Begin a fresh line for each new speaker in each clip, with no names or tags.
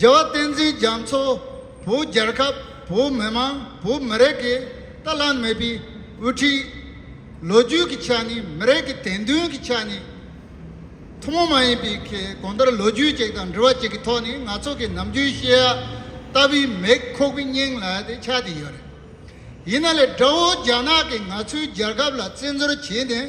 རྒྱལ་བ་བསྟན་འཛིན་རྒྱ་མཚོ་བོད་རྒྱལ་ཁབ་བོད་མི་མང་བོད་མི་རིགས་ཀྱི་དཀའ་ལ་དམིགས་པའི་དབུ་ཁྲིད། ལོ་རྒྱུས་ཀྱི་ཆ་ནས་མི་རིགས་ཀྱི་དད་འདུན་གྱི་ཆ་ནས་ཐུན་མོང་མ་ཡིན་པའི་གོང་ལྟར་ལོ་རྒྱུས་གཅིག་དང་འབྲི་བ་གཅིག་གི་ཐོག་ནས་ང་ཚོ་གི་ནམ་རྒྱུན་བཤད་ཡ་ལྟ་བུའི་མེག་ཁོག་པའི་སྙིང་ལ་དེ་ཆགས་ཏེ་ཡོད་རེད། ཡིན་ན་ལས་དགྲ་བོ་རྒྱ་ནག་གིས་ང་ཚོའི་རྒྱལ་ཁབ་ལ་བཙན་འཛུལ་བྱས་ནས།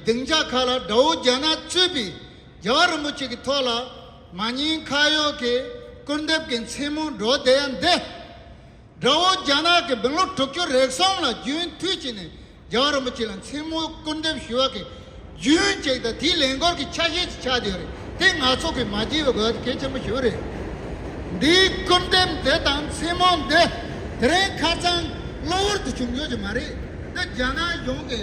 སྡིངས་ཆ་ཁག་ལ་དགྲ་བོ་རྒྱ་ནག་གཙོས་པའི་རྒྱལ་བ་རིན་པོ་ཆེ་གི་ཐོག་ལ་མ་ཉེས་ཁ་གཡོག་གི་སྐུར་འདེབས་ཀྱི་མཚན་མོ་འགྲོ་བསྡད་ཡ་འདི། དགྲ་བོ་རྒྱ་ནག་གི་བིང་ལོ་དྲུག་ཅུ་རེག་གསུམ་ལ་རྒྱུན་མཐུད་བྱས་ནས་རྒྱལ་བ་རིན་པོ་ཆེ་ལ་མཚན་མོ་སྐུར་འདེབས་ཞུ་བ་གི་རྒྱུན་ཅིག་དང་དེའི་ལས་འགོར་གི་ཆ་ཤས་ཅིག་ཆགས་བསྡད་ཡོད་རེད་དེ་ནག་ཚོགས་གི་མ་བགྱིས་པའི་དགོས་གལ་ཆེན་པོ་ཞིག་རེད། འདིའི་སྐུར་འདེབས་འདི་དང་མཚན་མོ་འདི་དེ་རིང་ཁ་ཚང་གློ་བུར་དུ་བྱུང་ཡོད་ཀྱི་མ་རེད་དེ་རྒྱ་ནག་གཞུང་གི་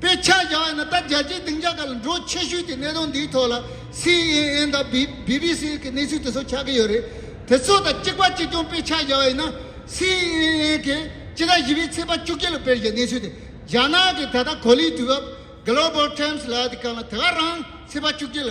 དཔེ་ཆ་བཞག་ཡོད་ན་ད་རྒྱལ་སྤྱིའི་སྡིངས་ཆ་ཁག་ལ་འགྲོ་ཆེ་ཤོས་ཀྱི་གནད་དོན་འདིའི་ཐོག་ལ་སི་ཨེན་ཨེན་དང་བྷི་བྷི་བྷི་སི་གི་གནས་ཚུལ་དེ་ཚོ་ཆགས་ཀྱི་ཡོད་རེད། དེ་ཚོ་དང་གཅིག་པ་གཅིག་མཚུངས་དཔེ་ཆ་བཞག་ཡོད་ན་སི་ཨེན་ཨེན་གྱིས་སྤྱི་ཟླ་བཞི་པའི་ཚེས་པ་བཅུ་གཅིག་ལ་སྤེལ་བའི་གནས་ཚུལ་དེ་རྒྱ་ནག་གི་ད་ལྟ་གོ་ལའི་དུས་བབ། Global Times། ལ་དེ་ག་ལ་དེ་ག་རང་ཚེས་པ་བཅུ་གཅིག་ལ་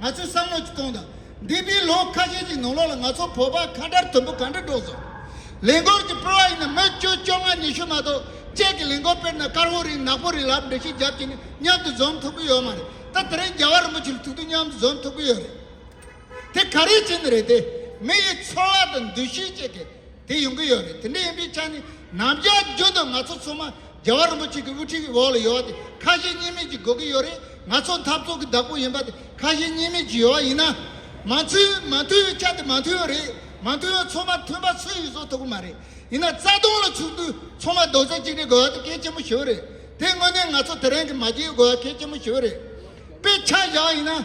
ང་ཚོས་བསམ་བློ་གཅིག་གཏོང་དང། འདས་པའི་ལོ་ཁ་ཤས་ཀྱི་ནང་ལོགས་ལ་ང་ཚོ་བོད་པ་ཁ་བྲལ་དོན་པོ་ག་འདྲ་སྒྲོག་སོང། ལས་འགོར་གྱི་སྤེལ་བ་ཡིན་ན་མི་བཅུ་བཅོ་ལྔ་ཉི་ཤུ་མ་གཏོགས་བཅས་ཀྱི་ལས་འགོ་སྤེལ་ན་དཀར་བོ་རིང་ནག་པོ་རིང་ལབ་འབྲི་ཤི་རྒྱབ་ཀྱི་ནི་མཉམ་དུ་འཛོམས་ཐུབ་ཀྱི་ཡོད་མ་རེད་ད་དེ་རིང་རྒྱལ་བ་རིན་པོ་ཆེར་ཐུག་དུས་མཉམ་དུ་འཛོམས་ཐུབ་ཀྱི་ཡོད་རེད་དེ་ག་རེའི་ཆེད་ནི་རེད་དེ་མི་ཡི་འཚོ་བ་དང་འདུ་ཤེས་བཅས་ཀྱི་དེ་ཡོང་གི་ཡོད་རེད་དེ་འདྲ་ཡིན་པའི་ཆ་ནས་ནམ་རྒྱ་རྒྱུན་དུ་ང་ཚོ་ཚང་མ་རྒྱལ་བ་རིན་པོ་ཆེ་གི་དབུ་ཁྲིད་འོག་ལ་ཡོད་པ་དེ་ཁ་ཞེ་གཉིས་མེད་ཀྱི་དགོས་ཀྱི་ཡོད་རེད་ང་ཚོ་འཐབ་རྩོད་ཀྱི་བདག་པོ་ཡིན་པ་དེ་ཁ་ཞེ་གཉིས་མེད་ཀྱི་ཡོད་པ་ཡིན་ན་མ་མཐུན་མ་མཐུན་བའི་ཆ་དེ་མ་མཐུན་ཡོད་རེད་མ་མཐུན་ཡོད་ཚོང་མ་མཐུན་པ་སུ་ཡིས་བཟོ་ཐུབ་ཀྱི་མ་རེད་ཡིན་ན་རྩ་སྟོང་ལ་ཚུགས་དུས་ཚོང་མ་རྡོག་རྩ་གཅིག་སྒྲིལ་དགོས་པ་དེ་གལ་ཆེན་པོ་ཞིག་རེད་དེ་དངོས་གནས་ང་ཚོ་དེ་རིང་གི་མ་སྐྱེལ་དགོས་པ་གལ་ཆེན་པོ་ཞིག་རེད་དཔེ་ཆ་བཞག་ཡིན་ན།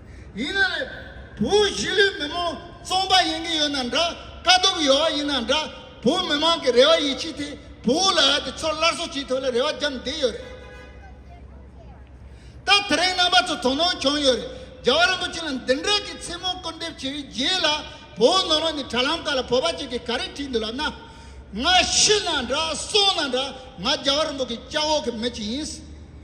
ཡིན་ན་རེད། བོད་གཞིས་ལུས་མི་མང་བཙོང་པ་ཡིན་གྱི་ཡོད་ན་འདྲ་དཀའ་སྡུག་ཡོད་བ་ཡིན་ན་འདྲ་བོད་མི་མང་གི་རེ་བ་ཡིད་ཆེས་དེ་བོད་ལ་ཡོད་དེ་ཚོར་སླར་གསོ་བྱེད་ཐུབ་ལ་རེ་བ་བརྒྱབ་བསྡད་ཡོད་རེད། ད་དེ་རིང་རྣམ་པ་ཚོ་དོ་སྣང་བྱུང་ཡོད་རེད་རྒྱ་བ་རིན་པོ་ཆེ་ལ་འདི་འདྲ་གི་མཚན་མོ་སྐུར་འདེབས་བྱས་པའི་རྗེས་ལ་བོད་ནང་ལོག་ནས་དྲ་ལམ་ཁག་ལ་བོད་པ་གཅིག་གིས་ག་རེ་བྲིས་འདུག་ལབ་ན། ང་ཤི་ན་འདྲ་སོང་ན་འདྲ་ང་རྒྱ་བ་རིན་པོ་གི་སྐྱག་འོག་གི་མི་གཅིག་ཡིན།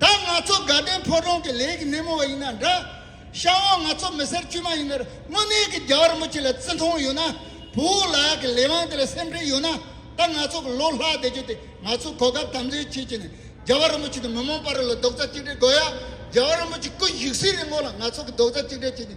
ད་ང་ཚོ་དགའ་ལྡན་ཕོ་བྲང་གི་ལས་ཀྱི་སྣེ་མོ་བ་ཡིན་ན་འདྲ། ཤ་བོ་ང་ཚོ་མི་སེར་དཀྱུས་མ་ཡིན་ནར་དངོས་གནས་ཀྱི་རྒྱ་གར་མི་སྤྱི་ལ་བརྩི་མཐོང་ཡོད་ན། བུ་འུ་ལགས་ཀྱི་ལས་དབང་དེ་ལ་སེམས་ཁྲལ་ཡོད་ན། ད་ང་ཚོ་གི་ལོ་ལྷག་བསྡད་རྒྱུ་དེ་ང་ཚོའི་གོ་སྐབས་དམ་འཛིན་བྱེད་ཀྱི་ནས་རྒྱ་གར་མི་སྤྱི་དང་མི་མང་པ་རི་ལ་རྡོག་རྩ་གཅིག་སྒྲིལ་དགོས་ཡ། རྒྱ་གར་མི་སྤྱི་སྐུ་བཞུགས་སའི་རི་ངོགས་ལ་ང་ཚོ་གི་རྡོག་རྩ་གཅིག་སྒྲིལ་བྱེད་ཀྱི།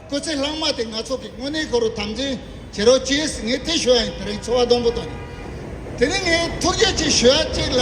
སྐུ་ཚེ་ལྷག་མ་དེ་ང་ཚོ་གི་དངོས་གནས་གོ་རུ་དམ་འཛིན་བྱེད་རོགས་ཅེས་ངས་ཐེ་ཞུ་བ་ཡིན་དེ་རིང་འཚོ་བ་སྡོང་པོ་དང། དེ་རིང་ངས་ཐུགས་རྗེ་ཆེ་ཞུ་ཡ་གཅིག་ལ།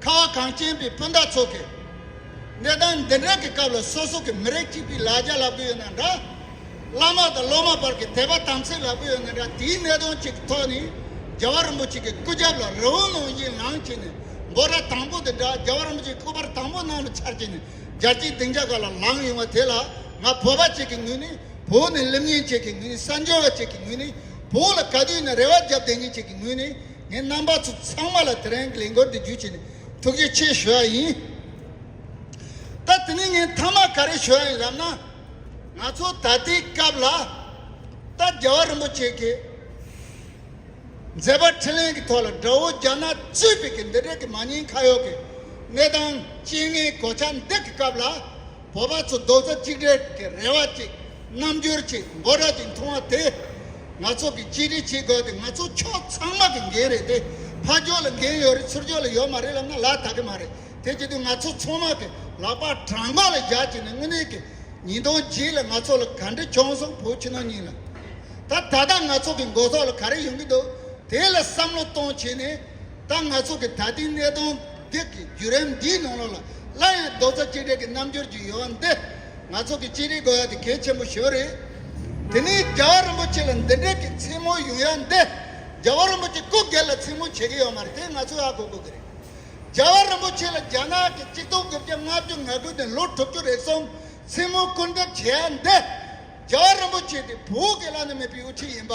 ཁ་བ་གངས་ཅན་པའི་སྤུན་ཟླ་ཚོ་གིས། གནས་སྟངས་འདི་འདྲ་གི་སྐབས་ལ་སོ་སོ་གི་མི་རིགས་གཅིག་པའི་ལ་རྒྱ་ལབ་གི་ཡོད་ན་འདྲ། བླ་མ་དང་སློབ་མ་བར་གི་དད་པ་དམ་ཚིག་ལབ་གི་ཡོད་ན་འདྲ་དེའི་གནད་དོན་གཅིག་གི་ཐོག་ནས་རྒྱལ་བ་རིན་པོ་ཆེ་གི་སྐུ་རྒྱབ་ལ་རི་བོ་ནང་བཞིན་ལངས་བྱས་ནས་འབོ་ར་དང་པོ་དེ་འདྲ་རྒྱལ་བ་རིན་པོ་ཆེ་སྐུ་པར་དང་པོ་ནང་ལ་འཆར་བྱས་ནས་རྒྱལ་སྤྱིའི་སྡིངས་ཆ་ག་ལ་ལངས་ཡོང་བ་དེ་ལ་ང་བོད་པ་གཅིག་གི་ངོས་ནས་བོད་ནས་ལེབ་ཉན་བྱེད་མཁན་ངོས་ནས་གསར་འབྱོར་བ་གཅིག་གི་ངོས་ནས་བོད་ལ་ག་དུས་ནས་རེ་བ་རྒྱབ་བསྡད་མཁན་གཅིག་གི་ངོས་ནས། ངས་རྣམ་པ་ཚོ་ཚང་མ་ལ་དེ་རིང་གི་ལས་འགུལ་འདི་བརྒྱུད་ཆེད་ནས་ཐུགས་རྗེ་ཆེ་ཞུ་བ་ཡིན། ད་དེ་ནས་ངས་མཐའ་མ་ག་རེ་ཞུ་བ་ཡིན་ཞབས་ན། ང་ཚོ་ད་ལྟའི་སྐབས་ལ། ད་རྒྱལ་བ་རིན་པོ་ཆེ་གིས་མཛད་པ་འཕྲིན་ལན་གྱི་ཐོག་ལ་དགྲ་བོ་རྒྱ་ནག་གཙོས་པའི་གི་འདི་འདྲ་གི་མ་ཉེས་ཁ་གཡོག་གི་གནས་སྟངས་སྤྱི་ངན་གོ་ཆ་འདི་གི་སྐབས་ལ། བོད་པ་ཚོ་རྡོག་རྩ་གཅིག་སྒྲིལ་གྱི་རེ་བ་གཅིག་རྣམ་འགྱུར་གཅིག་འབོད་སྒྲ་གཅིག་མཐོང་བ་དེས། ང་ཚོ་གི་གཅིག་སྒྲིལ་བྱེད་དགོས་ཏེ་ང་ཚོ་ཕྱོགས་ཚང་མ་གི་འགན་རེད་དེ། ཕ་ཕྱོགས་ལ་འགན་ཡོད་རེད་ཚུར་ཕྱོགས་ལ་ཡོད་མ་རེད་ལབ་ན་ལ་དག་གི་མ་རེད་དེ་བྱེད་དུས་ང་ཚོ་ཚང་མ་གི་ལག་པ་བྲང་འགོག་ལ་བཞག་བྱས་ནས་དངོས་གནས་གི་ཉིས་སྟོང་བརྒྱད་ལ་ང་ཚོ་ལ་ག་འདྲི་བྱུང་སོང་བོད་ཕྱི་ནང་གཉིས་ལ་ད་ད་ལྟ་ང་ཚོ་གི་འགོ་ཚོགས་ལ་ག་རེ་ཡོང་གི་འདུག་དེ་ལ་བསམ་བློ་གཏོང་བྱས་ནས་ད་ང་ཚོ་གི་ད་ལྟའི་གནས་སྟངས་འདི་གི་བརྒྱུད་རིམ་འདིའི་ནང་ལོགས་ལ་སླར་ཡང་རྡོག་རྩ་གཅིག་སྒྲིལ་གྱི་རྣམ་འགྱུར་གྱི་ཡོལ་བ་འདི་ང་ཚོ་གི་གཅིག་རིག་དགོས་ཡ་དེ་གལ་ཆེན་པོ་ཞིག་རེད། དེ་ནས་རྒྱལ་བ་རིན་པོ་ཆེ་ལ་འདི་འདྲས་ཀྱི་མཚན་མོ་ཡོང་ཡ་འདི་རྒྱལ་བ་རིན་པོ་ཆེ་སྐུ་སྒེར་ལ་མཚན་མོ་བྱེད་ཀྱི་ཡོད་མ་རེད་དེ་ང་ཚོ་ཡག་གོ་དགོས་ཀྱི་རེད། རྒྱལ་བ་རིན་པོ་ཆེ་ལ་རྒྱ་ནག་གི་གཅིག་སྟོང་དགུ་བརྒྱ་ལྔ་བཅུ་ང་དགུ་ནས་ལོ་དྲུག་ཅུ་རེ་གསུམ་མཚན་མོ་སྐུར་འདེབས་བྱེད་ཡ་འདི་རྒྱལ་བ་རིན་པོ་ཆེ་དེ་བོད་སྒེར་ལ་ནི་མེད་པའི་དབུ་ཁྲིད་ཡིན་པ།